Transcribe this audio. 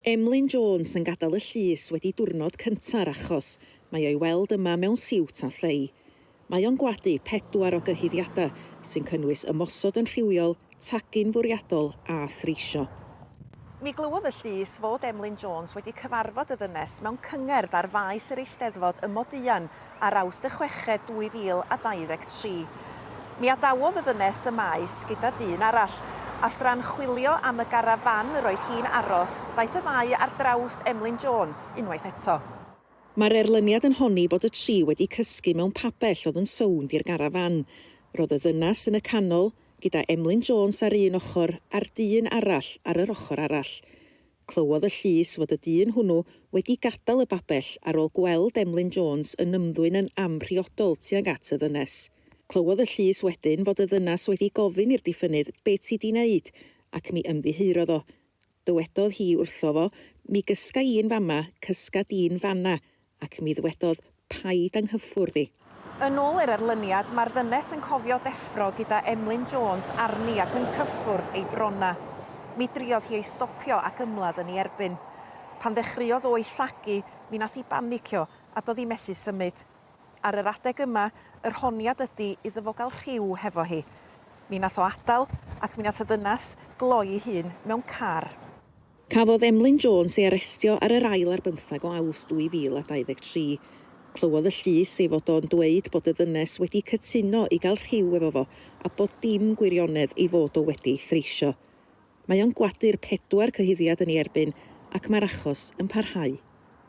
Emlyn Jones yn gadael y llys wedi diwrnod cynta'r achos, mae o'i weld yma mewn siwt a thei. Mae o'n gwadu pedwar o gyhuddiadau, sy'n cynnwys ymosod yn rhywiol, tagu'n fwriadol a threisio. Mi glywodd y llys fod Emlyn Jones wedi cyfarfod y ddynes mewn cyngerdd ar faes yr Eisteddfod ym Moduan ar Awst y chweched 2023. Mi adawodd y ddynes y maes gyda dyn arall, a thra'n chwilio am y garafán yr oedd hi'n aros, daeth y ddau ar draws Emlyn Jones unwaith eto. Mae'r erlyniad yn honni bod y tri wedi cysgu mewn pabell oedd yn sownd i'r garafán. Roedd y ddynas yn y canol, gyda Emlyn Jones ar un ochr a'r dyn arall ar yr ochr arall. Clywodd y llys fod y dyn hwnnw wedi gadael y babell ar ôl gweld Emlyn Jones yn ymddwyn yn amhriodol tuag at y ddynes. Clywodd y llys wedyn fod y ddynas wedi gofyn i'r diffynnydd 'Be ti 'di 'neud? ac mi ymddiheurodd o. Dywedodd hi wrtho fo, 'Mi gysga i'n fama, cysga di'n fan'na, ac mi ddwedodd paid â nghyffwrdd i. Yn ôl yr erlyniad, mae'r ddynes yn cofio deffro gyda Emlyn Jones arni ac yn cyffwrdd ei bronna. Mi driodd hi ei stopio ac ymladd yn ei erbyn. Pan ddechreuodd o ei llagu, mi nath hi banicio a do'dd hi methu symud. Ar yr adeg yma, yr honiad ydi iddo fo gael rhyw hefo hi. Mi nath o adael ac mi nath y ddynas gloi'i hun mewn car. Cafodd Emlyn Jones ei arestio ar yr ail ar bymtheg o Awst 2023. Clywodd y llys ei fod o'n dweud bod y ddynes wedi cytuno i gael rhyw efo fo a bod dim gwirionedd ei fod o wedi ei threisio. Mae o'n gwadu'r pedwar cyhuddiad yn ei erbyn ac mae'r achos yn parhau.